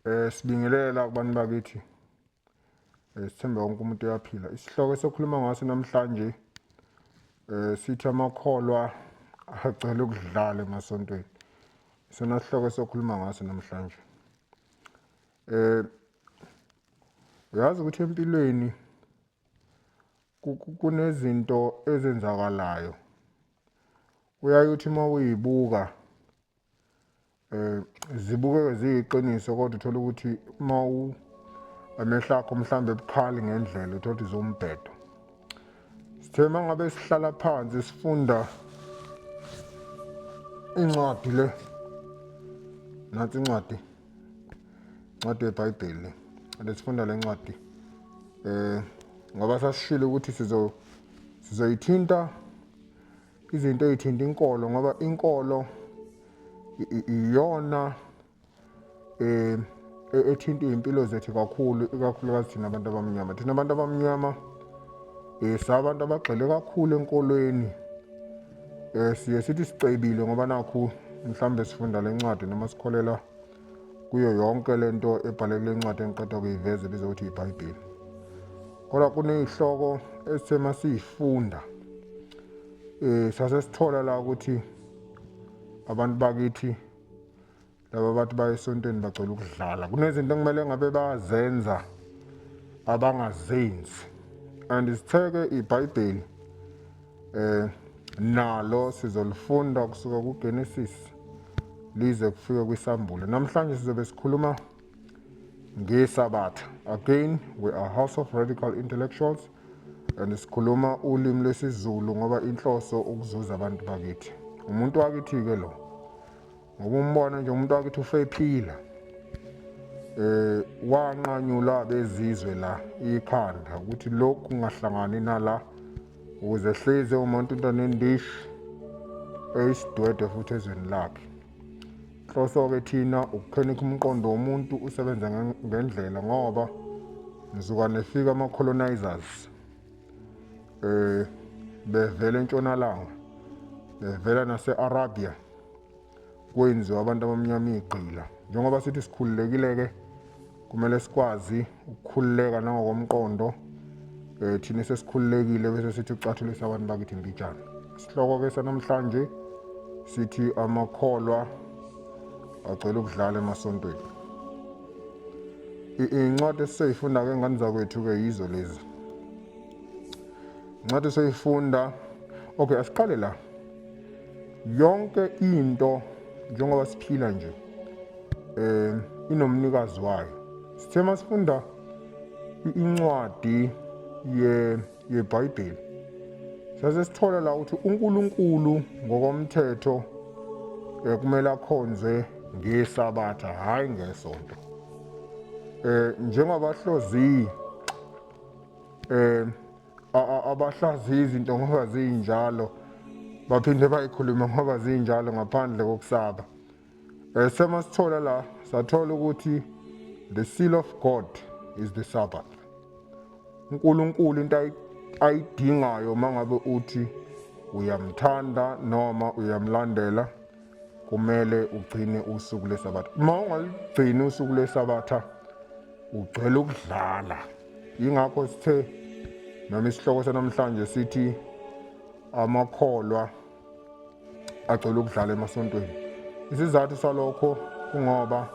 Eh sibingelela kubantu bakithi. Eh sithemba wonke umuntu uyaphila. Isihloko sokhuluma ngaso namhlanje eh sithi amakholwa agcela ukudlala emasontweni. Isona sihloko sokhuluma ngaso namhlanje. Eh uyazi ukuthi empilweni kunezinto ezenzakalayo Uyaye uthi uma uyibuka um zibukeke ziyiqiniso kodwa uthole ukuthi uma amehlo akho mhlawumbe ebukhali ngendlela uthole ukuthi zombhedo sithe uma ngabe sihlala phansi sifunda incwadi le nathi incwadi incwadi yebhayibheli lesifunda le ncwadi um ngoba sasishile ukuthi sizo sizoyithinta izinto ey'thinta inkolo ngoba inkolo iyona eh e-, ethinta iy'mpilo zethu kakhulu ikakhulukazi thina abantu abamnyama thina abantu abamnyama um sabantu abagxile kakhulu enkolweni um siye sithi sicebile ngoba nakhu mhlawumbe sifunda le ncwadi noma sikholelwa kuyo yonke le nto ebhale kule ncwadi engiqeda kuyiveza ebizwa ukuthi yibhayibheli kodwa kuney'hloko esithe uma siyifunda um eh, sase sithola la ukuthi abantu bakithi laba bathi baye esontweni bacela ukudlala kunezinto ekumele ngabe bazenza abangazenzi and sitheke ibhayibheli Eh nalo sizolifunda kusuka kuGenesis lize kufike kwisambulo. Namhlanje sizobe sikhuluma ngesabatha. Again, we are house of radical intellectuals and sikhuluma ulimi lwesiZulu ngoba inhloso ukuzuza abantu bakithi. Umuntu wakithi-ke lo. ngoba umbono nje umuntu wakithi usephila eh wanqanyula bezizwe la ikhanda ukuthi lokhu kungahlangani nala ukuze hleze umuntu into nendishi eyisidwede futhi ezweni lakhe inhloso-ke thina ukukhenikha umqondo womuntu usebenza ngendlela ngoba nisuka nefika ama-colonizers eh bevela entshonalanga bevela nase-arabia kwenziwa abantu abamnyama igqila njengoba sithi sikhululekile-ke kumele sikwazi ukukhululeka nangokomqondo um thina sesikhululekile bese sithi ucathulisa abantu bakithi mbijana isihloko-ke sanamhlanje sithi amakholwa agcwele ukudlala emasontweni iy'ncwadi esisoyifunda-ke ngani zakwethu-ke yizo lezi ncwadi soyifunda okay asiqale la Yonke into njengoba siphila nje eh inomnikazi wayo. Sithe masifunda incwadi ye yeBhayibheli. Sase sithola la ukuthi uNkulunkulu ngokomthetho eh, kumele akhonzwe ngesabatha hayi ngesonto. Eh njengoba hlozi eh abahlaziyi izinto ngoba ziyinjalo baphinde bayikhulume ngoba zinjalo ngaphandle kokusaba um eh, sema sithola la sathola ukuthi the seal of god is the sabbath unkulunkulu into ayidingayo uma ngabe uthi uyamthanda noma uyamlandela kumele ugcine usuku lesabatha uma ungaligcini usuku lesabatha ugcwele ukudlala yingakho sithe noma isihloko sanamhlanje sithi amakholwa agcwele ukudlala emasontweni isizathu salokho kungoba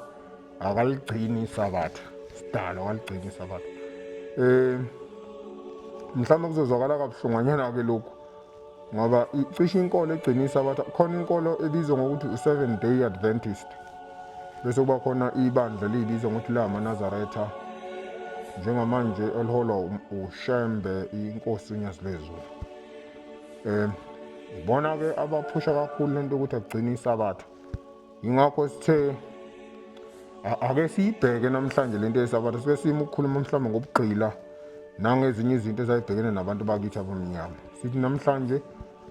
akaligcini isabatha sidalo akaligcini isabatha um mhlawumbe kuzozwakala kabuhlungwanyana-ke lokhu ngoba cishe inkolo egcinisa abatha khona inkolo ebizwa ngokuthi u-seven day adventist bese kuba khona ibandla liyibizwa ngokuthi lamaNazaretha njengamanje eliholwa uShembe inkosi uNyazilezulu um ibona-ke abaphusha kakhulu lento ukuthi agcine isabatha yingakho sithe ake siyibheke namhlanje lento yesabatha sibe sima ukukhuluma mhlawumbe ngobugqila nangezinye izinto ezayibhekene nabantu bakithi abamnyama sithi namhlanje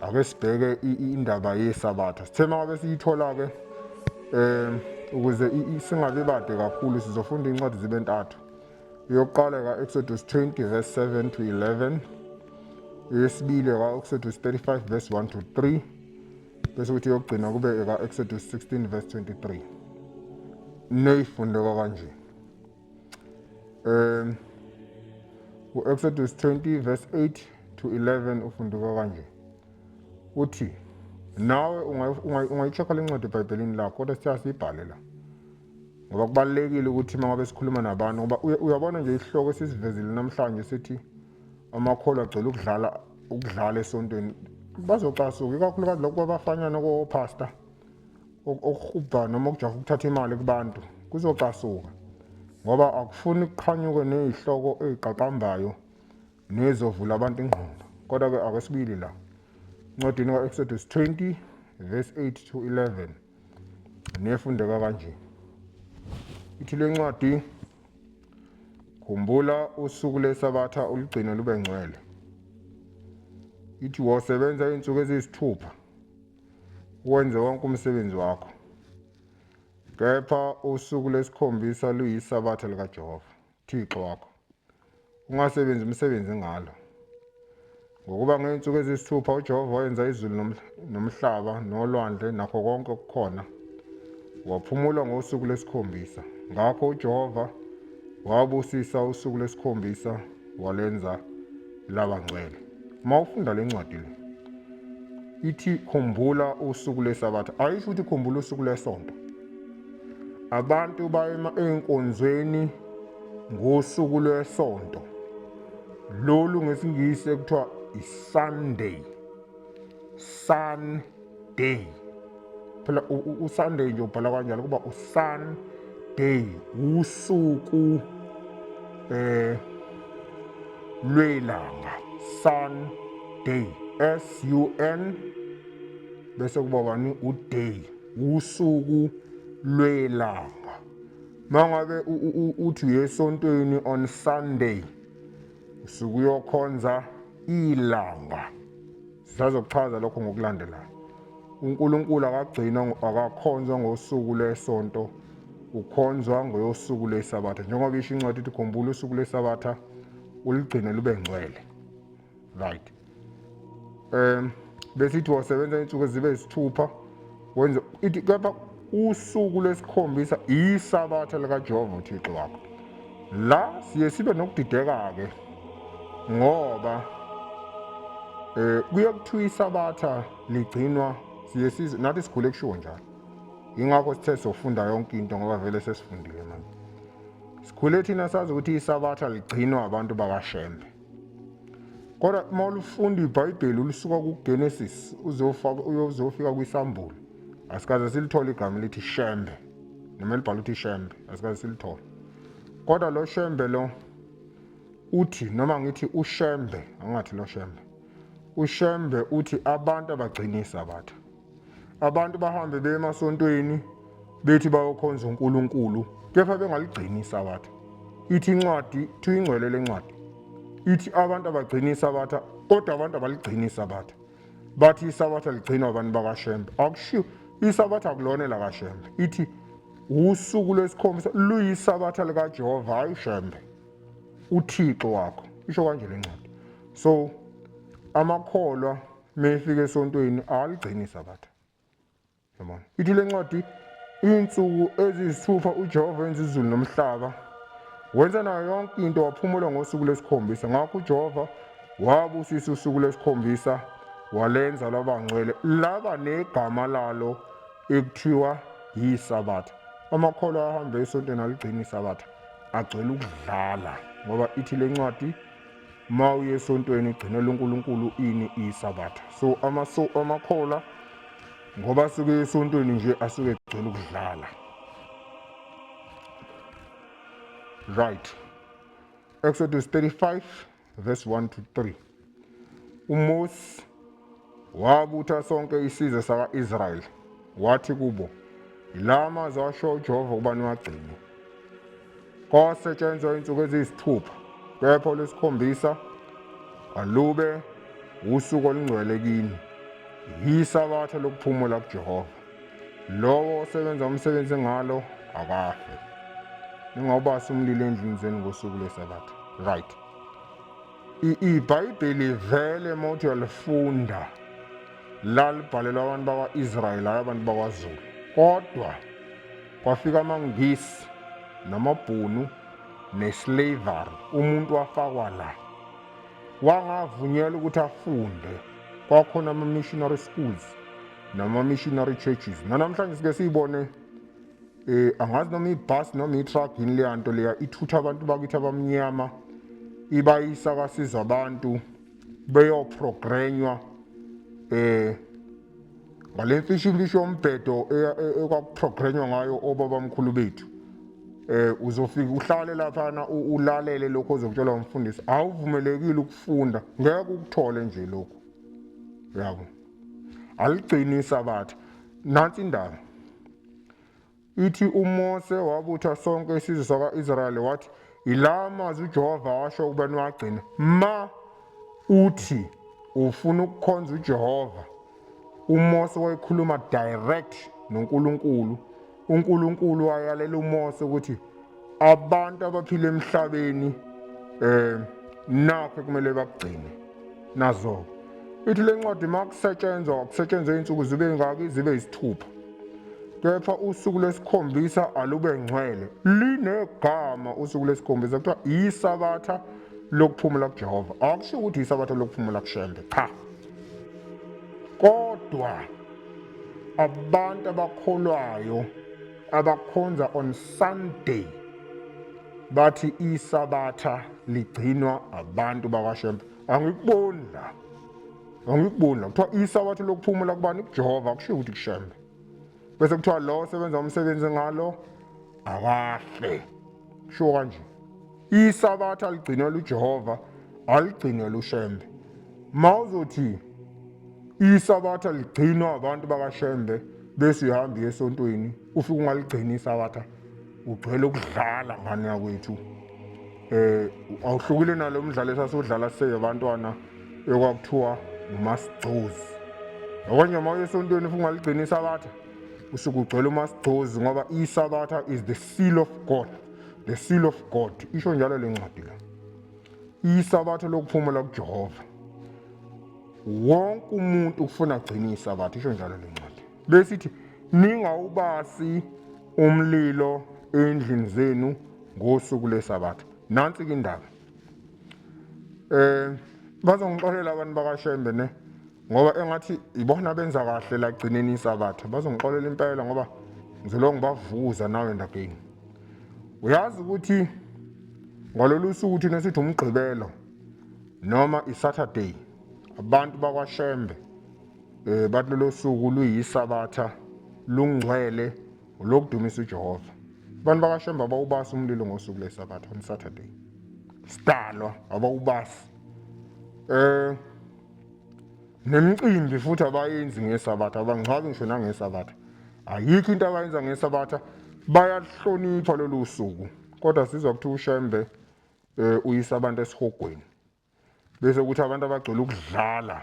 ake sibheke indaba yesabatha sithe mangabe siyithola-ke um ukuze singabi bade kakhulu sizofunda iy'ncwadi zibe ntathu yokuqala ka-exodus 20 verse 7 to 11 eyesibili ka-exodus 35 verse 1 to 3 bese ukuthi yokugcina kube eka-exodus 16 verse 23 neyifundeka kanje um u-exodus 20 verse 8 to 11 ufunduka kanje uthi nawe ungayichekha le ncwadi ebhayibhelini lakho kodwa sithiya siyibhale la ngoba kubalulekile ukuthi uma ngabe sikhuluma nabantu ngoba uyabona nje isihloko esisivezile namhlanje sithi amakholwa agcwele ukudlala ukudlala esontweni bazocasuka ikakhulukazi lokhu kwabafanyana kopastor okuhubha noma okujaha ukuthatha imali kubantu kuzocasuka ngoba akufuni kuqhanyuke nezihloko eziqaqambayo nezovula abantu ingqondo kodwa ke ake sibili la ncwadini ka-exodus 20 verse 8 to 11 nefundeka kanje ithi le ncwadi Khumbula usuku lesabatha ulugcine lube ngcwele. Ithi wosebenza iy'nsuku eziyisithupha wenze wonke umsebenzi wakho. Kepha usuku lesikhombisa luyisabatha likaJehova, Thixo wakho. Ungasebenzi umsebenzi ngalo. Ngokuba ngey'nsuku eziyisithupha uJehova wayenza izulu nomhlaba nolwandle nakho konke okukhona, waphumula ngosuku lwesikhombisa. Ngakho uJehova wabusisa usuku lwesikhombisa walwenza laba ngcwele. Uma ufunda le ncwadi le ithi khumbula usuku lwesabatha, ayisho ukuthi khumbula usuku lwesonto. Abantu bayema ey'nkonzweni ngosuku lwesonto. lolu ngesingisi ekuthiwa isunday sunday phela usunday nje ubhala kanjalo kuba usunday usuku eh lwelanga sunday s u n bese kuba bani uday usuku lwelanga mangabe uthi uyesontweni on sunday Sukuyokhonza ilanga. Sisazokuchaza lokho ngokulandelayo. UNkulunkulu akagcinwa akakhonzwa ngosuku lesonto ukhonzwa ngoyosuku lwesabatha njengoba isho incwadi ithi khumbula usuku lwesabatha uligcine lube ngcwele right um besithi wasebenza insuku ezibe isithupha wenza ithi kepha usuku lwesikhombisa isabatha likajehova uthixo wakho la siye sibe nokudideka-ke ngoba um kuye kuthiwa isabatha ligcinwa siye size nathi sigule kushiwo njalo yingakho sithe sofunda yonke into ngoba vele sesifundile manje sikhule thina sazi ukuthi isabatha ligcinwa abantu bakashembe Kodwa uma ulifunda iBhayibheli ulisuka kuGenesis uzofika kwiSambulo. Asikaze silithole igama lithi Shembe. Noma libhala ukuthi Shembe, asikaze silithole. Kodwa lo Shembe lo uthi noma ngithi uShembe, angathi lo Shembe. UShembe uthi abantu abagcini isabatha. Abantu bahambe beye emasontweni bethi bayokhonza uNkulunkulu kepha bengaligcini isabatha. Ithi incwadi kuthiwa ingcwele lencwadi. Ithi abantu abagcini isabatha kodwa abantu abaligcini isabatha. Bathi isabatha ligcinwa abantu bakaShembe. Akushiwo isabatha akulona elakaShembe. Ithi usuku lwesikhombisa luyisabatha likaJehova hayi uShembe. UThixo wakho. Isho kanje lencwadi. So amakholwa Mefika esontweni aligcini sabatha. Yabona. Ithi le ncwadi insuku ezisithupha uJehova wenza izulu nomhlaba. Wenza nayo yonke into waphumula ngosuku lesikhombisa. Ngakho uJehova wabusisa usuku lesikhombisa walenza laba ngcwele laba negama lalo ekuthiwa yisabatha. Amakholwa ahambe esontweni aligcini isabatha agcwele ukudlala ngoba ithi le ncwadi ma uye esontweni ugcinela uNkulunkulu ini isabatha so amaso amakhola ngoba asuke esontweni nje asuke egcwele ukudlala right Exodus 35 verse 1 to 3 uMose Wabutha sonke isizwe sakwa-Israyeli, wathi kubo, Yila amazwi asho uJehova ukuba niwagcine. Kwasetshenzwa izinsuku eziyisithupha, kepha olwesikhombisa alube usuku olungcwele kini, yisabatha lokuphumula kuJehova. Lowo osebenza umsebenzi ngalo akafe. Ningawubasi umlilo endlini zenu ngosuku lwesabatha. Right. ibhayibheli vele uma uthi uyalifunda lalibhalelwa abantu bakwa-israyeli hayi abantu bakwazulu kodwa kwafika amangisi namabhunu neslavery umuntu wafakwa la wangavunyelwa ukuthi afunde kwakhona ama-missionary schools nama-missionary churches nanamhlanje sike siyibone Eh angazi noma ibus noma itruck yini leya nto leya ithutha abantu bakithi abamnyama ibayisa kasizwa abantu beyoprogrenywa eh ngale mfishimfishi yombhedo ekwakuprogrenywa ngayo obabamkhulu bethu eh uzofika uhlale laphana ulalele lokho ozokutshelwa umfundisi awuvumelekile ukufunda ngeke ukuthole nje lokho yabo aligcini isabatha nansi indaba Ithi uMose wabutha sonke isizwe sakwa-Israyeli wathi, Yila amazwi uJehova washo ukuba niwagcine. Ma uthi ufuna ukukhonza uJehova, uMose wayekhuluma direct noNkulunkulu. UNkulunkulu wayalela uMose ukuthi abantu abaphila emhlabeni eh nakho kumele bakugcine nazo ithi le ncwadi uma kusetshenzwa kusetshenzwe iy'nsuku zibe ngaki zibe yisithupha kepha usuku lesikhombisa alube ngcwele linegama usuku lesikhombisa kuthiwa yisabatha lokuphumula kujehova akusho ukuthi yisabatha lokuphumula kushembe cha kodwa abantu abakholwayo abakhonza on Sunday bathi isabatha ligcinwa abantu bakashembe angikuboni la angikuboni la kuthiwa isabatha lokuphumula kubani kujehova kushiwo ukuthi kushembe bese kuthiwa lo osebenza umsebenzi ngalo akahle kushiwo kanje isabatha aligcinwe lujehova aligcinwe lushembe ma uzothi isabatha ligcinwa abantu bakashembe bese uhamba esontweni ufike ungaligcini isabatha ugcwele ukudlala ngane yakwethu eh awuhlukile nalo mdlalo esasodlala siseke abantwana ekwakuthiwa umasigcozi okwanye uma uyesontweni ufike ungaligcini isabatha usuke ugcwele umasigcozi ngoba isabatha is the seal of god The seal of God isho njalo le ncwadi la. Isabatha lokuphumula kuJehova. Wonke umuntu ufuna kugcina isabatha isho njalo le ncwadi. Besithi ningawubasi umlilo endlini zenu ngosuku lesabatha. Nansi ke indaba. um bazongixolela abantu bakashembe ne ngoba engathi ibona benza kahle la gcineni isakatha bazongixolela impela ngoba ngizolo ngibavuza nawe ndageni uyazi ukuthi ngalolu suku thina sithi umgqibelo noma isaturday abantu bakwashembe um bathi lolo suku luyisabatha lungcwele olokudumisa uJehova. Abantu bakashembe abawubasi umlilo ngosuku lesabatha on Saturday. Sidalwa abawubasi. Eh nemicimbi futhi abayenzi ngesabatha abangcwabi ngisho nangesabatha. Ayikho into abayenza ngesabatha bayahlonipha lolu suku kodwa sizwa kuthiwa uShembe eh uyisa abantu esihogweni. bese kuthi abantu abagcwele ukudlala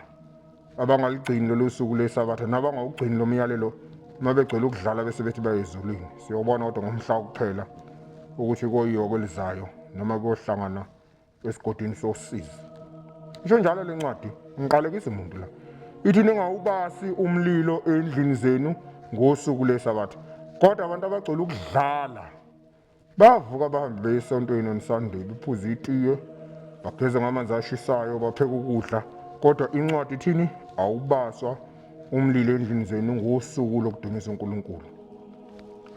abangaligcini lolu suku lwesabatha nabangawugcini lo myalelo uma begcwele ukudlala bese bethi bayezulwini siyobona kodwa ngomhla wokuphela ukuthi koyiyoko elizayo noma kuyohlangana esigodini sosizi isho njalo le ncwadi ngiqalekisa umuntu la ithi ningawubasi umlilo endlini zenu ngosuku lwesabatha kodwa abantu abagcwele ukudlala Bavuka abahambi beye esontweni oNsunday, bephuza itiye, bageza ngamanzi ashisayo, bapheka ukudla. Kodwa incwadi ithini? Awubaswa umlilo endlini zenu ngosuku lokudumisa uNkulunkulu.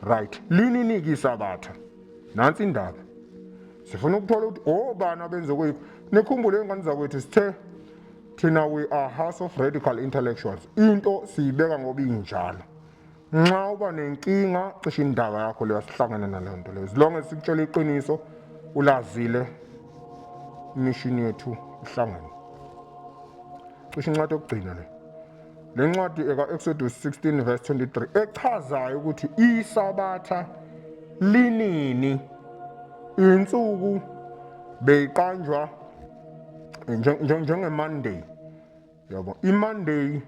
Right. Lini niki isabatha? Nansi indaba. Sifuna ukuthola ukuthi obani abenze kwethu. Nikhumbule ingane zakwethu sithe thina we are house of radical intellectuals. Into siyibeka ngoba injalo. Nxa uba nenkinga cisha indaba yakho leyo sihlangene naleyo nto leyo. Zilonge sikutshela iqiniso ulazile imishini yethu ihlangene. Cisha incwadi yokugcina le. Le ncwadi eka-Exodus 16 verse 23 echazayo ukuthi isabatha linini insuku beyiqanjwa njengeMonday yabo imonday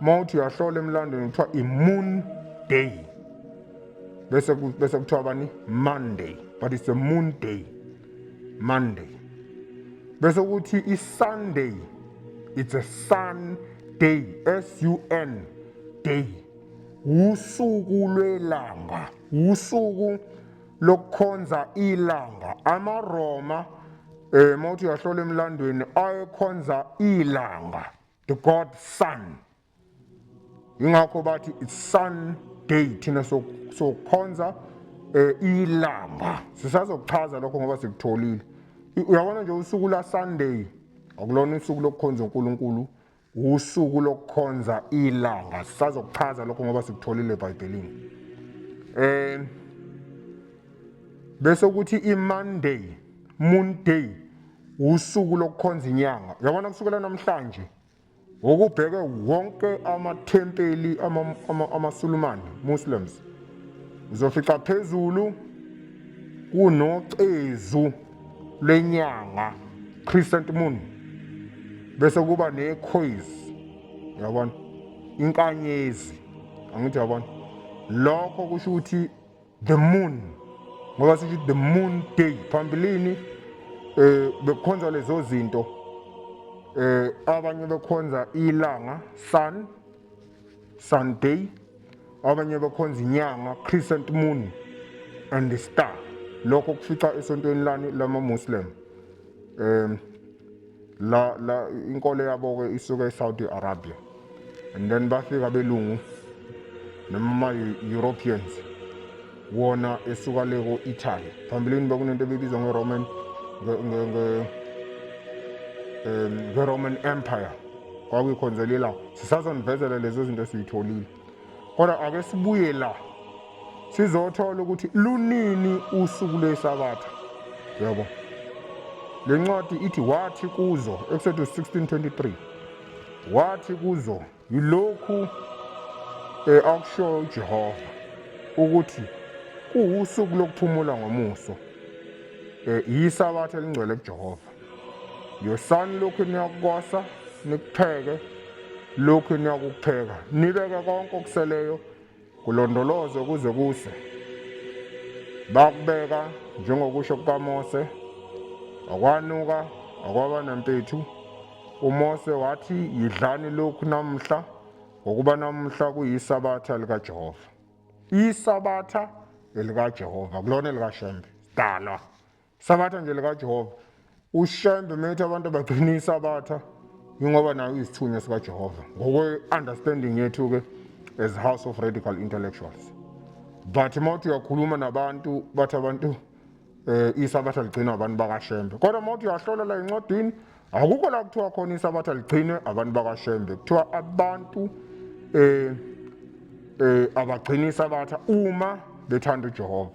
uma uthi uyahlola emlandweni kuthiwa i-moon day bese bese kuthiwa bani monday but it's a moon day monday bese kuthi i-sunday it's a sun day s u n day usuku lwelanga usuku lokukhonza ilanga amaRoma eh mawuthi uyahlola emlandweni ayekhonza ilanga the god sun ingakho bathi it's sun day thina sokukhonza eh ilanga sisazokuchaza lokho ngoba sikutholile uyabona nje usuku la sunday akulona usuku lokukhonza uNkulunkulu Usuku lokukhonza ilanga sazokuchaza lokho ngoba sikutholile eBhayibhelini. Eh bese ukuthi iMonday, Moon Day usuku lokukhonza inyanga. Yabona kusukela namhlanje ngokubheke wonke amathempeli amaSulumane Muslims uzofica phezulu kunocezu lenyanga crescent moon bese kuba nekhoyizi yabona inkanyezi angithi yabona lokho kusho ukuthi the moon ngoba sithi the moon day phambilini eh bekukhonza lezo zinto eh abanye bekhonza ilanga sun Sunday abanye bakhonza inyanga crescent moon and the star lokho kufica esontweni lani lama muslim um la la inkolo yabo ke isuka eSaudi Arabia and then bafika belungu noma europeans wona esuka le ko-italy phambilini bekunento ebibizwa ngeroman ngeroman um, empire kwakuyikhonzeli la sisazonivezela lezo zinto esiyitholile kodwa ake sibuye la sizothola ukuthi lunini usuku lwesabatha yabo le ncwadi ithi wathi kuzo ekusethus 1623 wathi kuzo Yilokhu eh, akushoyo uJehova ukuthi kuwusuku lokuphumula ngomuso. Eh, yisabatha elingcwele kuJehova. Yosani lokhu niyakukosa nikutheke lokhu niyakukutheka nibeke konke okuseleyo Kulondolozwe kuze kuse. Bakubeka njengokusho kukaMose, akwanuka, akwaba nampethu. UMose wathi, Yidlani lokhu namuhla, ngokuba namuhla kuyisabatha likaJehova. Isabatha elikaJehova, kulona elikashembe, sidalwa. Sabatha nje likaJehova. Ushembe methi abantu abaqinisa abatha ingoba nayo isithunywa sikaJehova. Ngokwe-understanding yethu ke as House of Radical Intellectuals. But mawuthi uyakhuluma nabantu bathi abantu eh isabatha ligcinwa abantu bakashembe. Kodwa mawuthi uyahlola la incwadini akukho la kuthiwa khona isabatha ligcinwe abantu bakashembe. Kuthiwa abantu eh eh abagcinisa abatha uma bethanda uJehova.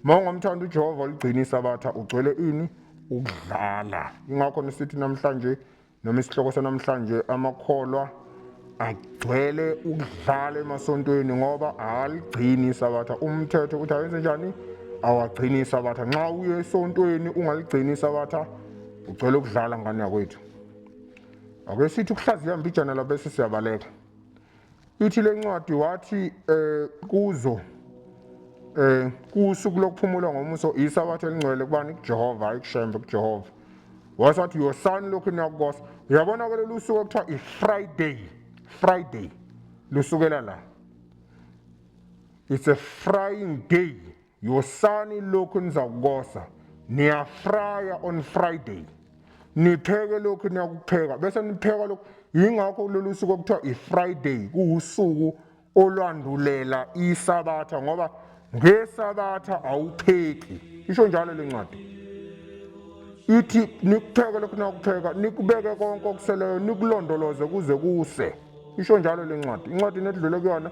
Mongo mthanda uJehova oligcina isabatha ugcwele ini ukudlala. Ingakho nisithi namhlanje noma isihloko sanamhlanje amakholwa agcwele ukudlala emasontweni ngoba aligcini isabatha. Umthetho uthi ayenze njani? Awagcini isabatha. Nxa uye esontweni ungaligcini isabatha ugcwele ukudlala ngane yakwethu. Ake sithi ukuhlaziya mbijana labese siyabaleka. Ithi le ncwadi wathi eh kuzo eh kusuku lokuphumula ngomuso isabatha elingcwele kubani kuJehova hayi kuShembe kuJehova wase wathi yosani lokhu niyakukosa uyabona ke lolu suku okuthiwa i-friday friday lusukela la it's a frying day Yosani lokhu nizakukosa. Niyafraya on Friday. Nipheke lokhu niyakupheka bese nipheka lokhu. Yingakho lolu suku okuthiwa i-Friday kuwusuku olwandulela isabatha ngoba ngesabatha awupheki. Isho njalo le ncwadi. Ithi nikupheke lokhu niyakupheka, nikubeke konke okuseleyo, nikulondoloze kuze kuse. Isho njalo le ncwadi. Incwadi nedlule kuyona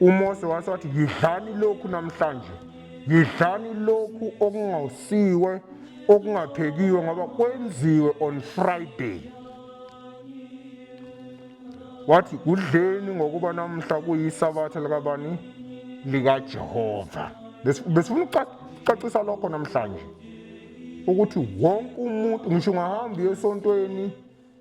UMose wase wathi, Yidlani lokhu namhlanje, yidlani lokhu okungawusiwe, okungaphekiwe, ngoba kwenziwe on Friday. Wathi, Kudleni ngokuba namhla kuyisabatha likabani? LikaJehova. Besifuna ukucacisa lokho namhlanje ukuthi wonke umuntu ngisho ungahamba uye esontweni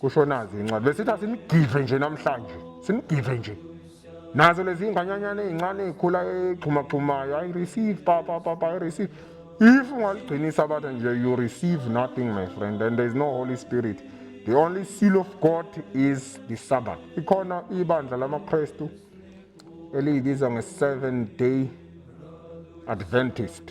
kusho nazo incane besithi asimgidle nje namhlanje simgidle nje nazo lezi nganyanyana ezincane ezikhula exhumaxhumayo i receive papa papa i receive if ungaligcinisa abatha nje you receive nothing my friend and there is no holy spirit the only seal of god is the sabbath ikhona ibandla lamakristu eliyibiza nge-seven day adventist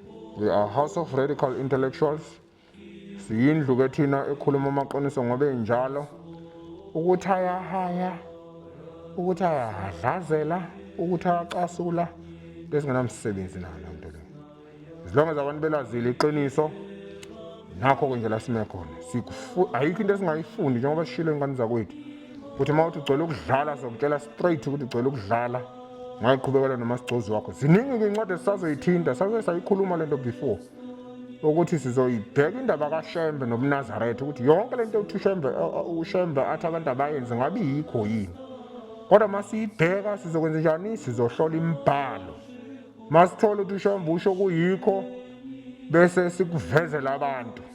We are House of Radical Intellectuals. Siyindlu ke thina ekhuluma amaqiniso ngoba enjalo. Ukuthi ayahaya, ukuthi ayahadlazela, ukuthi ayacasula besingenamsebenzi nayo loo nto leyo. As long as abantu belazile iqiniso nakho ke nje la sime khona. Ayikho into esingayifuni njengoba sishilo ingane zakwethu ukuthi uma uthi ugcwele ukudlala sokutshela straight ukuthi ugcwele ukudlala ngayiqhubekela nomasigcozi wakho ziningi-ke incwadi esisazoyithinta saze sayikhuluma le nto before ukuthi sizoyibheka indaba kashembe nobunazaretha ukuthi yonke le nto yokuthi ushembe ushembe athi abantu abayenzi ngabe yikho yini kodwa uma siyibheka sizokwenza njani sizohlola imibhalo uma sithole ukuthi ushembe usho kuyikho bese sikuvezela abantu